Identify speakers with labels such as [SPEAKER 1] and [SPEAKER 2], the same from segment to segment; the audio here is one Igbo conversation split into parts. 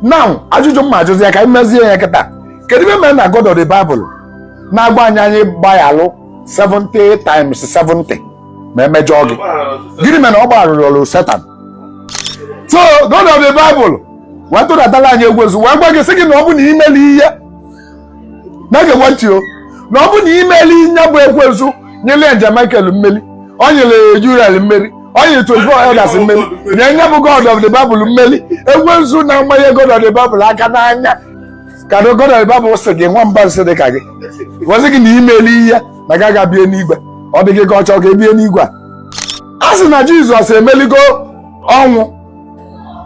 [SPEAKER 1] now ajụjụ m ma-ajụzi ya ka anyị mezie ya kịta kedu ive mere na God of the Bible na-agwa anyị anyị gbaghalụ 70 times 70 ma emejọọ gị gịnị mere na ọ gbagharụrọ Satan so God of the Bible wee tụdatala anyị ekwensu wee gwa gị sị gị na ọ bụ na i melie na-egekwa ntị o na ọ bụ na i melie nya bụ ekwensu nyere Angel Michael mmeri ọ nyere Uriel mmeri ọ nyere 24 elders mmeri nye nya bụ god of the bible mmeri ekwensu na-amanye god of the bible aka n'anya ka na god of the bible sị gị nwa mba nsị dị ka gị wee sị gị na i melie na gị agaa bie n'igwe ọ dị gị ka ọ chọọ ka e bie n'igwe a a sị na jizọs emeligo ọnwụ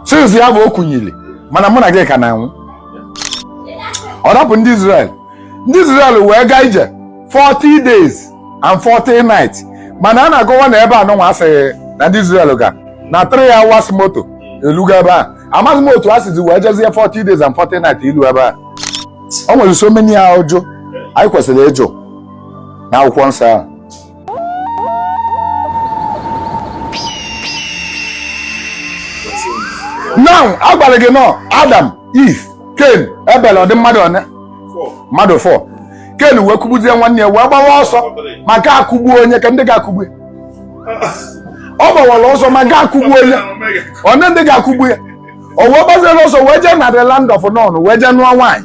[SPEAKER 1] since ya bụ o kunyili mana mụ na gị ka na-anwụ ọ rapụ ndị Israel ndị Israel wee gaa ije 40 days and 40 nights mana a na-akọwa na ebe anụnwa a sị na ndị Israel ga na 3 hours moto eluga ebe a amaghị m otu a sizi wee jezie 40 days and 40 nights ilu ebe a o nwere so many ajụjụ anyị kwesịrị ịjụ na akwụkwọ nsọ ahụ now a gwara gị na ọ Adam Eve Cain Abel ọ dị mmadụ one mmadụ 4 Cain wee kụgbuzie nwanne ya wee gbawa ọsọ maka akụgbuo nya kee ndị ga-akụgbu ya ọ gbawara ọsọ maka akụgbuo nya one ndị ga-akụgbu ya o wee gbaziere ọsọ wee jee na the land of Nod wee jee nụọ nwaanyị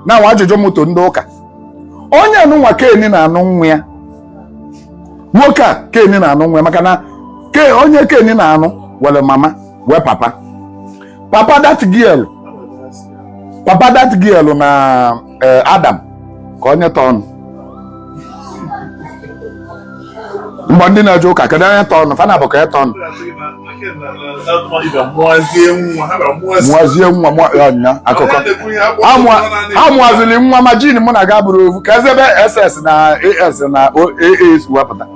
[SPEAKER 1] now ajụjụ moto ndị ụka onye anụnwa Cain na-anụ nwa ya nwoke a Cain na-anụ nwa ya maka na onye Cain na-anụ were mama wee papa papa that girl papa that girl na eh, Adam kee onye tọọ ọnụ mgbe ndị na-eje ụka kedu onye tọọ ọnụ fa nabọ ka ya tọọ ọnụ mụazie nwa mụa- ya nya akụkọ Amụa- amụazili nwa imagine mụ na ga-abụrụ ofu kezi ebe SS na AS na AA si wee pụta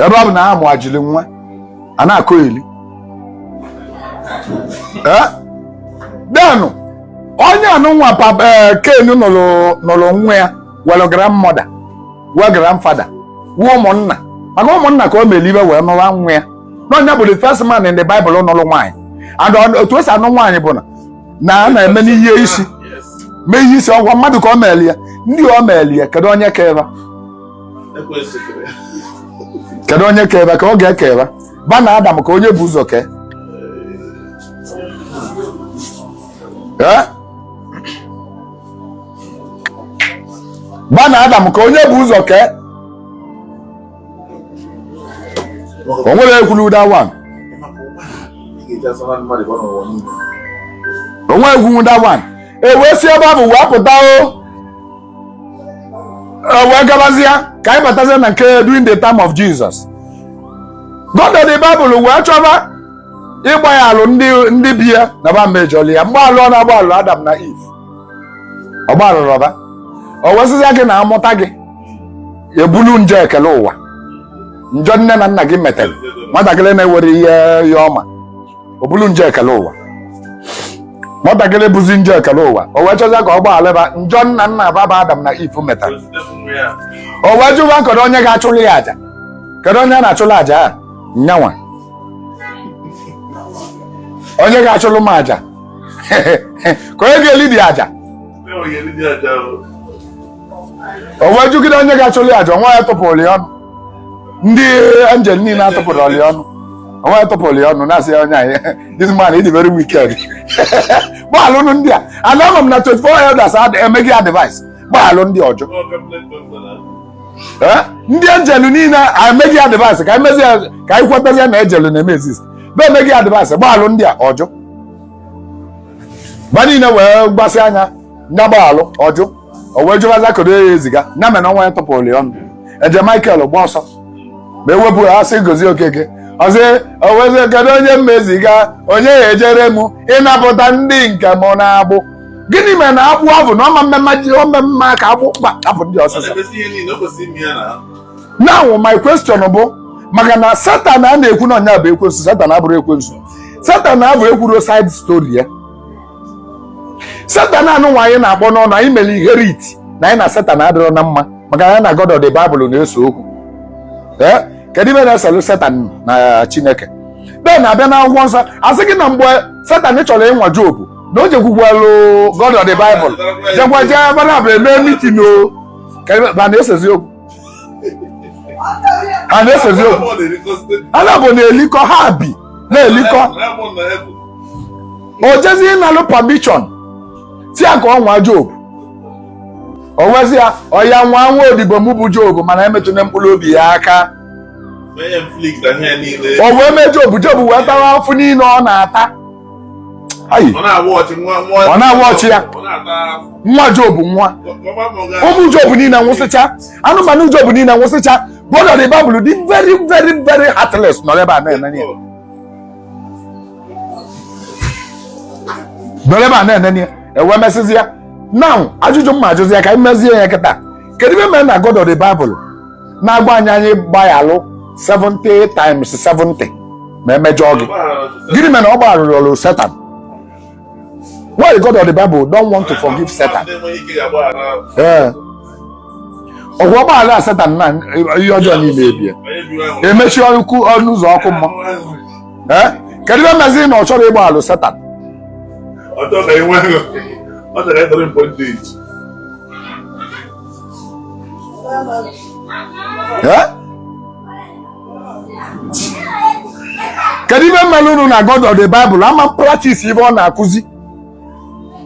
[SPEAKER 1] ebe ọ bụ na ha mụajili nwa a na-akọ eli Eh? then onye anụnwa Cain nụrụ nwa ya were grandmother wee grandfather wee ụmụnna maka ụmụnna ka o mere ive wee nụwa nwa ya na ọ nya bụ the first man in the Bible nụrụ nwaanyị and otu esi anụ nwaanyị bụ na na a na-eme n'ihe isi mee ihe isi ọ gwa mmadụ ka ọ mere ya ndị ọ mere ya kedu onye kee ve kedu onye kee ve ka ọ God kee ve va na Adam kee onye e bu ụzọ kee ee ba na adam ka onye bu ụzọ kee o nwere ekwulu that one o nwere ekwulu that one e wee si ebe ahụ wee pụta o e wee gabazịa ka anyị batazie na nke during the time of Jesus God of the Bible wee chọba ịgbayalụ ndị ndị be ya na ba mejọli ya mgbaalụ ọ na-agbaalụ adam na eve ọ gbaalụrọ ba o wee sịzịa gị na a mụta gị i bulu njọ ekele ụwa njọ nne na nna gị metere nwatakịrị na-enwerọ ihe ọ ma o bulu njọ ekele ụwa nwatakịrị buzi njọ ekele ụwa o wee chọzịa ka ọ gbaalụ ba njọ nna nna ba bụ adam na eve metara o wee jụwa kedu onye ga-achụrụ ya aja kedu onye a na-achụrụ aja a nyanwa onye ga-achụlụ m aja ka onye ga-eli the aja o wee jụgide onye ga-achụlụ aja o nwerọ onye tụpụrụ ya ọnụ ndị angel niile atụpụrọ ya ọnụ o nwerọ onye tụpụrụ ya ọnụ na-asị ya onye anyị this man ị dị very wicked gbaalụnụ ndị a ana ama m na 24 elders emego ya advice gbaalụ ndị a ọ jụ ndị angel niile emego ya advice ka e mezi ka anyị kwetazie na angel na-eme exist be emego ya advice gbaalụ ndị a ọ jụ ba niile wee gbasị anya nya gbaalụ ọ jụ o wee jụbaza kedu ya eziga na mena o nwerọ onye tụpụrụ ya ọnụ angel Michael gba ọsọ ma e wepụ ya asị gozie okeke ọ sị o wee sị kedu onye m ya-eziga onye ya-ejere m ịnapụta ndị nke m n'agbụ gịnị mere na agbụ ahụ na ọma mmemme ji ome mma ka agbụ kpapụ ndị ọsịsọ now my question bụ maka na satan a na-ekwu na ọ nya bụ ekwensu satan abụrọ ekwensu satan ahụ ekwurọ side story ya satan anụnwa anyị na-akpọ n'ọnụ anyị mere inherit na anyị na satan adịrọ na mma maka na ya na god of the bible na-ese okwu ee kedu ife na-eselụ satan na chineke then a bịa na akwụkwọ nsọ a sị gị na mgbe satan chọrọ ịnwa job na o jekwukwalụ God of the Bible jekwa jee ba naabọ emee meeting o ka ebe ba na-esezi okwu ha na-esezi okwu ha naabọ na-elikọ ha bi na-elikọ o jezi ịnalụ permission sị ya ka ọ nwaa job o wee sị ya oya nwaa nwa odibo m bụ job mana emetụna mkpụrụ obi ya aka o wee mee job job wee tawa afụfụ niile ọ na-ata ayi ọ na-awa ọchị ya nwa Job nwa ụmụ Job niile nwụsịcha anụmanụ Job niile nwụsịcha God of the Bible dị very very very heartless nọ n'ebe a na-ene ya nọ n'ebe a na-ene ya e wee mesịzịa now ajụjụ m na-ajụzi ya ka anyị mezie ya kịta kedu ive mere na God of the Bible na-agwa anyị anyị gbaghalụ 70 times 70 ma e mejọọ gị gịnị mere na ọ gbagharụrọ Satan why god of the bible don't want to forgive Satan ee ọ bụ ọ gbaghara Satan na ihe ọjọọ niile ebie e mechie ọkụ ọnụ ụzọ ọkụ mmụọ ee kedu ihe mezi na ọ chọrọ ịgbaghalụ Satan Ọ chọrọ ka e nwee ọ chọrọ ịdọrọ mpọ ndị iji. eh? kedu ive melụ nụ na God of the Bible ama practice ive ọ na-akụzi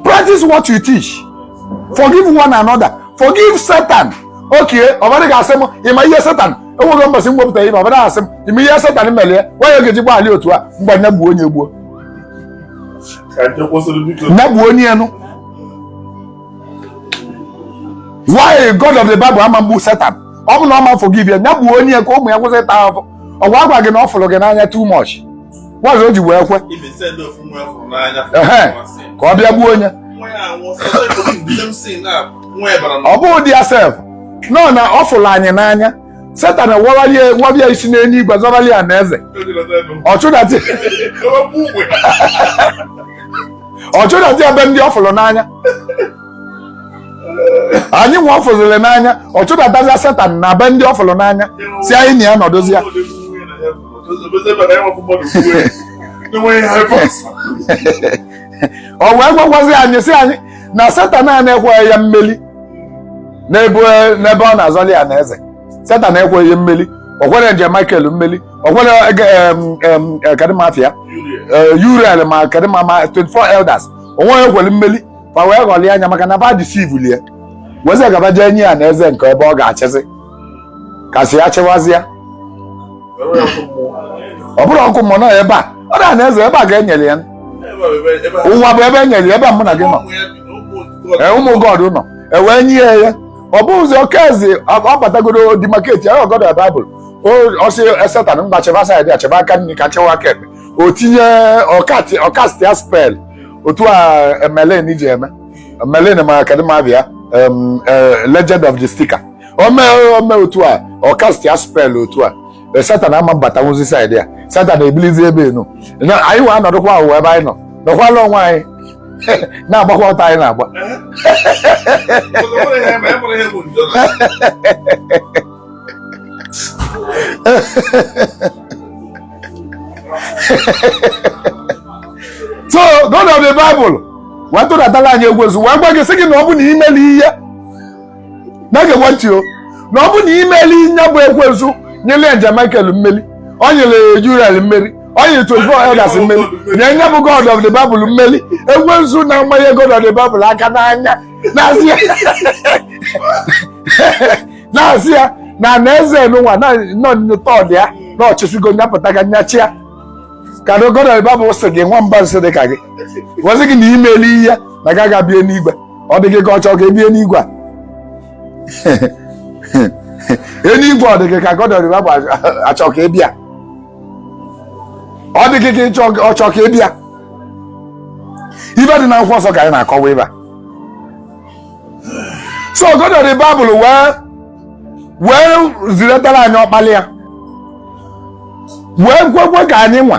[SPEAKER 1] practice what you teach forgive one another forgive Satan okay ọ ba ga-asị m ị ma ihe Satan enweghị mbọsị m wepụta ihe ọ ba asị m ị ma ihe Satan mere ya nwa ya ga-eji gbaghalụ otu a ngwa nya gbuonụ ya gbuo nya gbuonụ ya nụ why god of the bible ama egbu Satan ọ bụ na ọ ma forgive ya ya gbuonụ ya ka ụmụ ya kwụsị ịta ahụhụ ọ ga-agwa gị na ọ fụrụ gị n'anya too much wazụ o ji wee kwe If they send off nwa ya fụrụ n'anya, Ehe. nwa sị, ka ọ bịa gbuo onye nwa ya anwụọ, sị, "Ọzọ ekwughị m, di m sị na nwa ya bara n'ọgụ." ọ bụghị di ya sef nọ na ọ fụrụ anyị n'anya Satan wabịa isi n'eluigwe zọrọli ya na eze ọ chụdata ọ chụdata ebe ndị ọ fụrụ n'anya anyị nwa ọ fụziri n'anya ọ chụdatazia Satan na be ndị ọ fụrụ n'anya sị anyị na ya nọdụzịa o wee gwakwazi anyị sị anyị na Satan a na-ekweghị ya mmeli n'ebe n'ebe ọ na-azọli ya na eze Satan ekweghị mmeli o kwerọ angel Michael mmeli o kwerọ ege- em, em, eh, kedu ma afa ya Eh, Uriel ma kedu ma ma 24 elders o nweghị o kwere mmeli ma wee ghọlie anya maka na ba deceive ya weezi gaba jee nye ya na eze nke ebe ọ ga-achịzi ka sị ya chịwazịa ọ bụrọ ọkụ mmụọ nọ ebe a ọ dara na eze ebe a ga-enyere ya ụwa bụ ebe e nyere ya ebe a mụ na gị nọ ee ụmụ God nọ e wee nye ya ya ọ bụghịzi oke eze ọ batagoro demarcate ya God of the Bible ọ sị Satan ngwa chịba side a chịba aka nri ka m chịwa aka ekpe o tinye ọ cast ya spell otu a Merlin ji eme Merlin ma kedu ma afa ya Legend of the Seeker o mee o mee otu a ọ kastịa spel otu a e, satan ama mbatanwuzi saịdị ya satan ebilizie ebe enu anyị nwa anọdụkwa ụwa ebe anyị nọ nọkwala onwe anyị na-agbakwa ọtọ anyị na-agba so God of the Bible wee tụdatala anyị ekwensu wee gwa gị sị gị na ọ bụ na i melie na-egekwa ntị o na ọ bụ na i melie nya bụ ekwensu nyere angel Michael mmeri o nyere angel Uriel mmeri o nyere 24 elders mmeri nye nya bụ God of the Bible mmeri ekwensu na-amanye God of the Bible aka n'anya na-asị ya na-asị ya na na eze n'ụwa na nọ nyụta ọdị ya na ọ chịsigo nyapụta ga nyachia ka na God of the Bible sị gị nwa mba nsị dị ka gị gwazi gị na i melie na ị ga-aga bie n'igwe ọ dị gị ka ọ chọọ ka e bie n'igwe a eluigwe ọ dị gị ka God of the Bible achọ ka a bịa ọ dị gị ka ịchọ ọ chọọ ka a bịa ive dị na akwụkwọ nsọ ka anyị na-akọwa ebe a. so God of the Bible wee wee zidatara anyị ọkpala ya wee kwekwe ka anyị nwa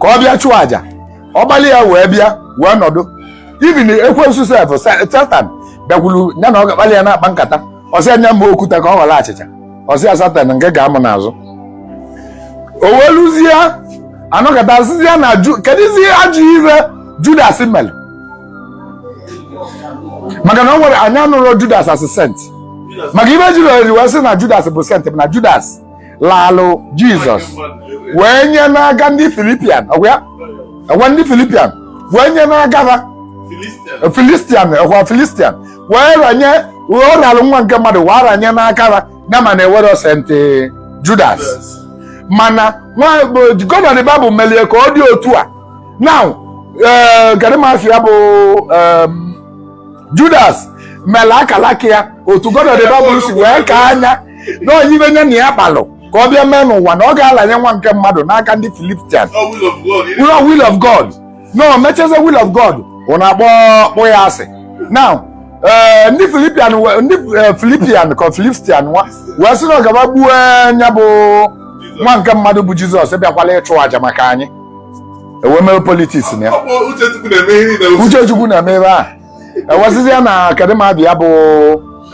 [SPEAKER 1] ka ọ bịa chụọ aja ọkpala ya wee bịa wee nọdụ even ekwensu sef satan bịakwuru ya na ọ ga-akpali ya na-akpa nkata ọ sị nya mee okwute a ka ọ ghọrọ achịcha ọ sị ya satan ngwa gaa mụ n'azụ o wee luzie a nọkata sịzie na ju kedụzi ajọ ife judas mere maka na o nwere anyị anụrọ judas as sent maka ive e jiri wee sị na judas bụ sent bụ na judas laalụ jizọs wee nye n'aka ndị filipian ọkwa ọkwa ndị filipian wee nye n'aka ha filistian ọkwa filistian wee ranye ọ ralụ nwa nke mmadụ wee ranye n'aka ha ya mana e nwere sent judas mana God of the Bible melie ka ọ dị otu a na eh, gadimasi ya bụ judas mere akalaka ya otu God of the Bible si wee kaa nya na ọ ive nya na ya kpalụ ka ọ bịa mee n'ụwa na ọ ga-alanye nwa nke mmadụ n'aka ndị Filistian ọ lụọ will of God na o mecheze will of God unu na-akpọ kpọ ya asị now eh, ndị Filipian ndị eh, Filipian ka Filistian nwa wee sị na ọ ka ba gbuo nya bụ nwa nke mmadụ bụ Jizọs bịakwala ịchụ àjà maka anyị e wee mere politiks na ya uche Chukwu na-eme ebe a e wee sịzịa na kedịma bịa bụ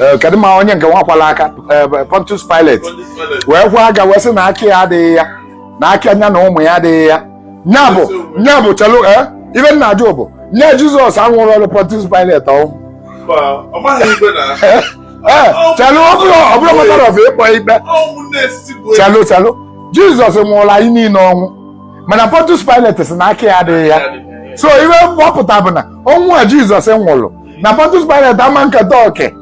[SPEAKER 1] eh, kedịma onye nke nwa kwalụ aka eh, Pontius Pilate wee kwa aka wee sị na aka ya adịghị ya na aka nya na ụmụ ya adịghị ya nya bụ nya bụ chelu eh, ife m na-ajụ bụ nya Jizọs a nwụrụrụ Pontius Pilate ọnwụ chelu ọ bụrụ matter of ịkpọ ikpe chelu chelu Jizọs nwụrụ anyị niile ọnwụ mana Pontius Pilate sị na aka ya adịghị ya so ihe ọ pụta bụ na ọnwụ a Jizọs nwụrụ na Pontius Pilate ama nketa oke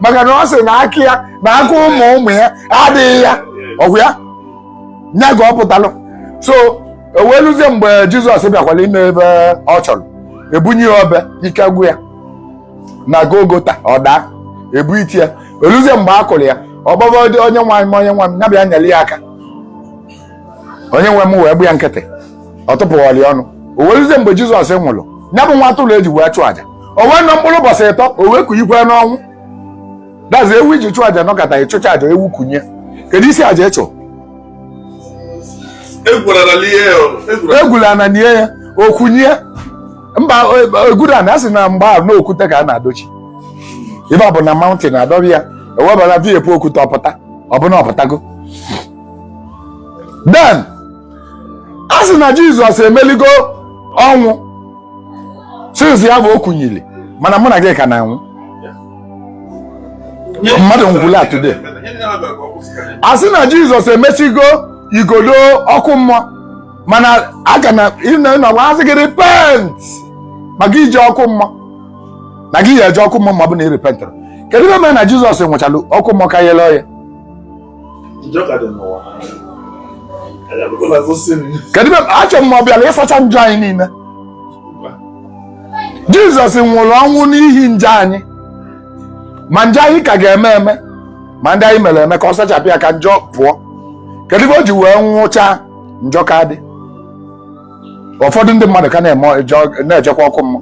[SPEAKER 1] maka na ọ sị na aka ya na aka ụmụ ụmụ ya adịghị ya ọ bụ ya nya ka ọ pụtalụ so e wee luzie mgbe Jizọs bịakwara ime ife ọ chọrọ e bunye ya obe ike gwụ ya na Golgota ọ daa e bunite ya e luzie mgbe a kụrụ ya ọ kpọba onye nwe m onye nwe m ya bịa nyere ya aka onye nwe m wee gbaa ya nkịtị ọ tụpụghọlị ọnụ o wee ruzie mgbe jizọs nwụrụ ya bụ nwa atụrụ e ji wee chụọ aja o wee nọ mkpụrụ ụbọchị ịtọ o wee kunyikwe n'ọnwụ that is ewu i ji chụọ aja nọkata ị chụchaa aja ewu kunye kedụzi aja ị chụ e gwulu ana nie ya o kunye mba e gwurọ ana a sị na mgbe ahụ na okwute ka a na-adochi ife ọ bụ na mountain a dobe ya e wee bara viepu okwute ọ pụta ọ bụ na ọ pụtago then a sị na jizọs emeligo ọnwụ since ya bụ o kunyili mana mụ na gị ka na-anwụ mmadụ nwụla today a sị na jizọs emesigo igodo ọkụ mmụọ mana a ka na-anọkwa asị gị repent maka ije ọkụ mmụọ na gị ya-eje ọkụ mmụọ ma ọ bụ na ị repentrọ kedu ihe mere na jizọs nwụchara ọkụ mmụọ ka yele oye achọ m ọ bịara ịsacha njọ anyị niile jizọs nwụrụ ọnwụ n'ihi njọ anyị ma njọ anyị ka ga-eme eme ma ndị anyị mere eme ka ọ sachapụ ya ka njọ pụọ kedu ife o ji wee nwụchaa njọ ka dị ụfọdụ ndị mmadụ ka na-ejekwa ọkụ mmụọ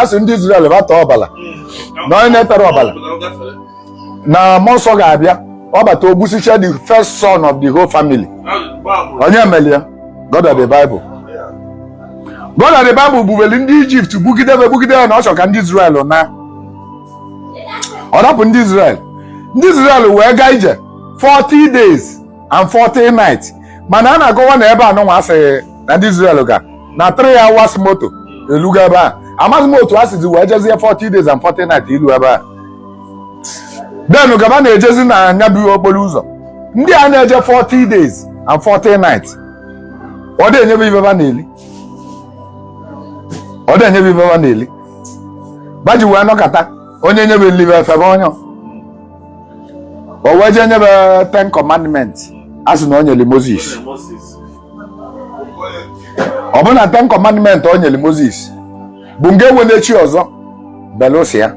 [SPEAKER 1] a sị ndị Izrel ba taa ọbala hmm. na onye na-eterọ ọbala na mmụọ nsọ ga-abịa ọ bata o gbusichaa the first son of the whole family onye mere ya God of the Bible God of the Bible gbubeli ndị Ijipt gbugide be gbugide be na ọ chọrọ ka ndị Izrel naa o dupụ ndị Izrel ndị Izrel wee gaa ije 40 days and 40 nights mana a na-agọwa na ebe anụnwa asịghị na ndị Israel ga na 3 hours moto eluga ebe a amaghị m otu a sizi wee jezie 40 days and 40 nights ilu ebe a then gaba na-ejezi na nya bụ okporo ụzọ ndị a na-eje 40 days and 40 nights ọ dị enyebe ife ba na-eli ọ dị enyebe ife ba na-eli ba ji wee nọkata onye nyebe nli ba efebe onye o wee jee nyebe ten commandments a sị na o nyere Moses Moses ọ bụrụ na ten commandment o nyere moses bụ ngị enwene chi ọzọ belụsọ ya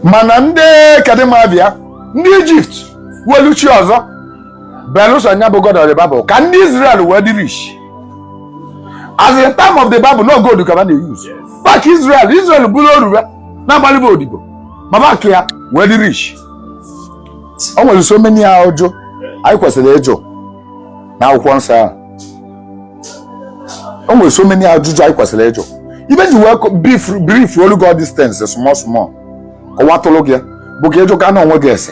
[SPEAKER 1] mana ndị kadịmabịa ndị egypt welu chi ọzọ belụsọ nya bụ god of the bible ka ndị israel wee dị rich as the time of the bible na ọ gold ka ba na-euse ba ka israel israel bụrụ oru wee na-agbalụ ba odibo ma ba ka ya wee dị rich o nwere so many ajụjụ anyị kwesịrị ịjụ na akwụkwọ nsọ ahụ o nwere so many ajụjụ anyị kwesịrị ịjụ ife e ji wee kọ- brief briefolu gị all these things small small kọwatụlụ gị ya, bụ ka ị jụ ka na onwe gị ese